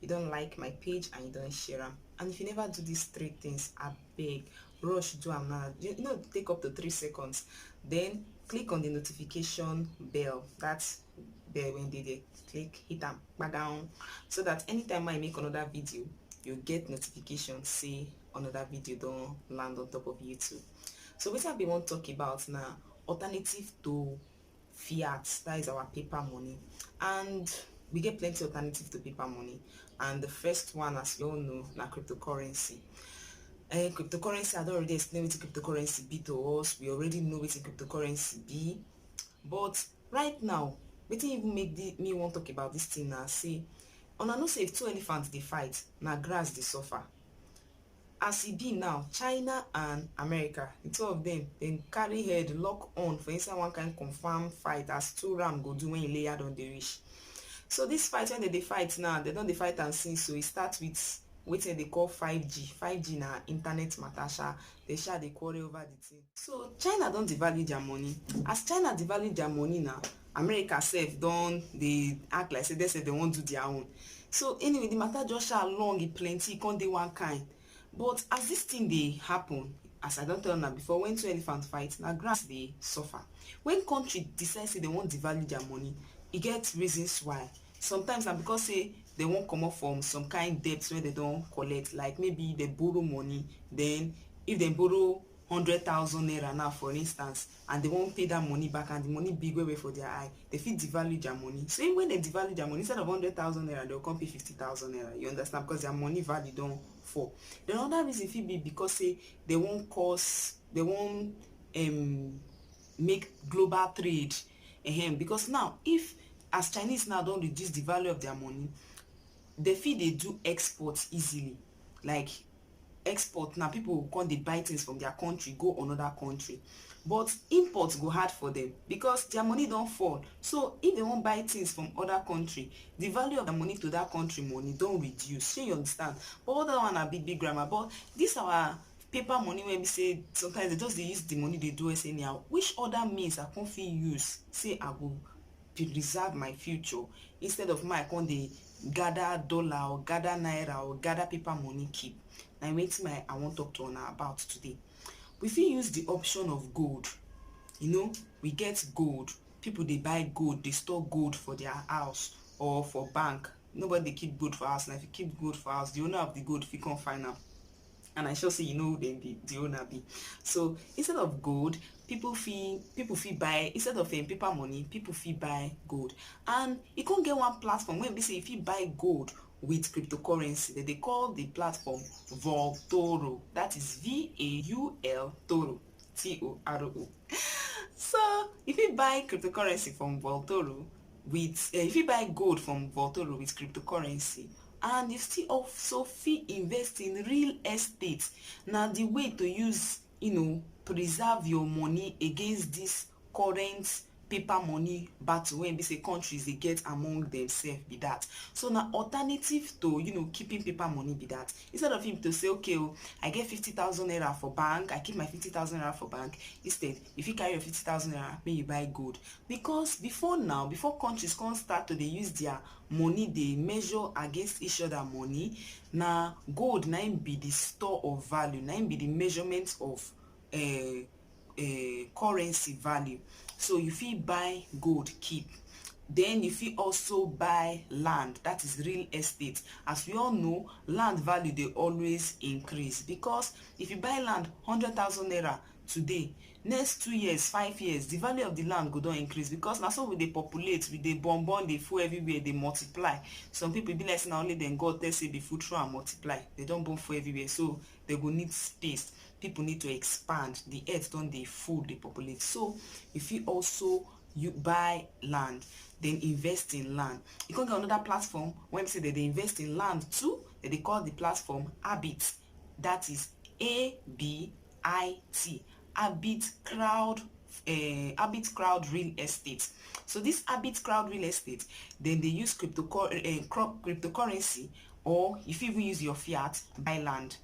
you don like my page and you don share am and if you never do these three things abeg rush do am now you know take up to three seconds then click on the notification bell that's bell when they, they click hit am down so that anytime i make another video you get notification say another video don't land on top of youtube so what i be want talk about now alternative to fiat that is our paper money and we get plenty alternative to paper money and the first one as you all know na cryptocurrency uh, cryptocurrency i don't already explain what cryptocurrency be to us we already know what cryptocurrency be but right now wetin even make the, me wan talk about this thing na say una know say if two elephants dey fight na grass dey suffer As e be now, China and America, di two of dem, dem carry head lock on for inside one kind confam fight as two ram go do wen Ileya don dey reach. So dis fight wen dem dey fight now, dem don dey fight am since o, e start with wetin dem dey call 5G, 5G na internet mata sha, dem sha dey quarrel over di tin. So China don devalue their money. As China devalue their money now, America sef don dey act like say dem sef dem wan do their own. So anyway, the matter just sha long, e plenty, e come dey one kind. But as this thing dey happen, as I don tell una before, when two elephants fight, na grass dey suffer. When country decide say dem wan devalue their money, e get reasons why. Sometimes na because say dem wan comot from some kind debt wey dem don collect, like maybe dem borrow money, then if dem borrow hundred thousand naira now for instance and dem wan pay that money back and the money big well well for their eye, dem fit devalue their money. So when dem devalue their money, instead of hundred thousand naira, dem go come pay fifty thousand naira. You understand? Because their money value don fall. The another reason fit be because say dem wan cause, dem wan um, make global trade. Um, because now, if as Chinese now don reduce the value of their money, dem fit dey do export easily. like export na people go come dey buy things from their country go another country but import go hard for them because their money don fall so if they wan buy things from other country the value of their money to that country money don reduce shey you understand but all that one na big big grammar but this our paper money wey be say sometimes they just dey use the money dey do us anyhow which other means i come fit use say i go preserve my future instead of make I come dey gather dollar or gather naira or gather paper money keep. Na wetin my I wan talk to una about today. We fit use the option of gold. You know, we get gold. People dey buy gold, dey store gold for their house or for bank. Nobody dey keep gold for house. Na if you keep gold for house, the owner of the gold fit come find am. and i sure say you know who dem be the owner be so instead of gold people fit people fit buy instead of um, paper money people fit buy gold and e come get one platform wey be say you fit buy gold with cryptocurrency dem dey call the platform voltoro that is v-a-u-l toro t-o-r-o so you fit buy cryptocurrency from voltoro with uh, you fit buy gold from voltoro with cryptocurrency and you still also fit invest in real estate na the way to use you know preserve your money against this current paper money battle wey be say countries dey get among themselves be that so na alternative to you know keeping paper money be that instead of him to say okay oh i get fifty thousand naira for bank i keep my fifty thousand naira for bank instead you fit carry your fifty thousand naira make you buy gold because before now before countries come start to dey use their money dey measure against each other money na gold na im be the store of value na im be the measurement of um um currency value so you fit buy gold keep then you fit also buy land that is real estate as we all know land value dey always increase because if you buy land hundred thousand naira today next two years five years the value of the land go don increase because na so we dey populate we dey born born dey full everywhere dey multiply some people e be like say na only dem God tell say be full throw and multiply they don born full everywhere so they go need space people need to expand the earth don dey full dey populate so you fit also you buy land then invest in land you come get another platform when be say they dey invest in land too they dey call the platform habit that is ABIT, Abit Crowd uh, Abit Crowd Real Estate. So this Abit Crowd Real Estate, then they use crypto uh, eh, cryptocurrency or if you even use your fiat buy land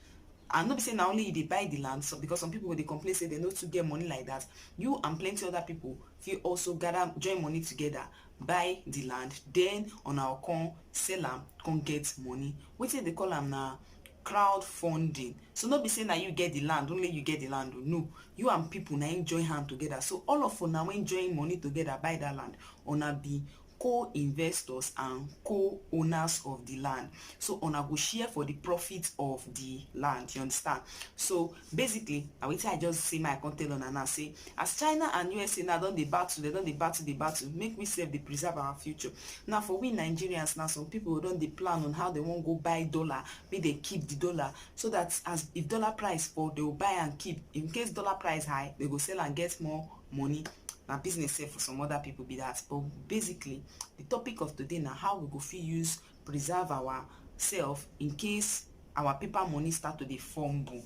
and not be say na only you dey buy the land so because some people go dey complain say they no too get money like that you and plenty other people fit also gather join money together buy the land then una come sell am come get money wetin dey call am na crowd funding so no be say na you get the land only you get the land o no you and people na im join hand together so all of una when join money together buy that land una be co-investors and co-owners of the land so una go share for the profit of the land you understand so Basically, na wetin I just see my come tell una now say as China and USA now don dey battle, dem don dey battle dey battle, make we sef dey preserve our future. Now for we Nigerians now, some people don dey plan on how dem wan go buy dollar, make dem keep the dollar so that as if dollar price fall, they will buy and keep. In case dollar price high, they go sell and get more money. Na business sef for some other people be that. But basically, the topic of today na how we go fit use preserve our self in case our paper money start to dey fumble.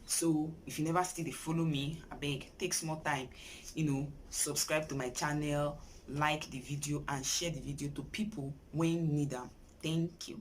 So, if you never still dey follow me, abeg take small time, you know, subscribe to my channel, like the video and share the video to people wey need am. Thank you.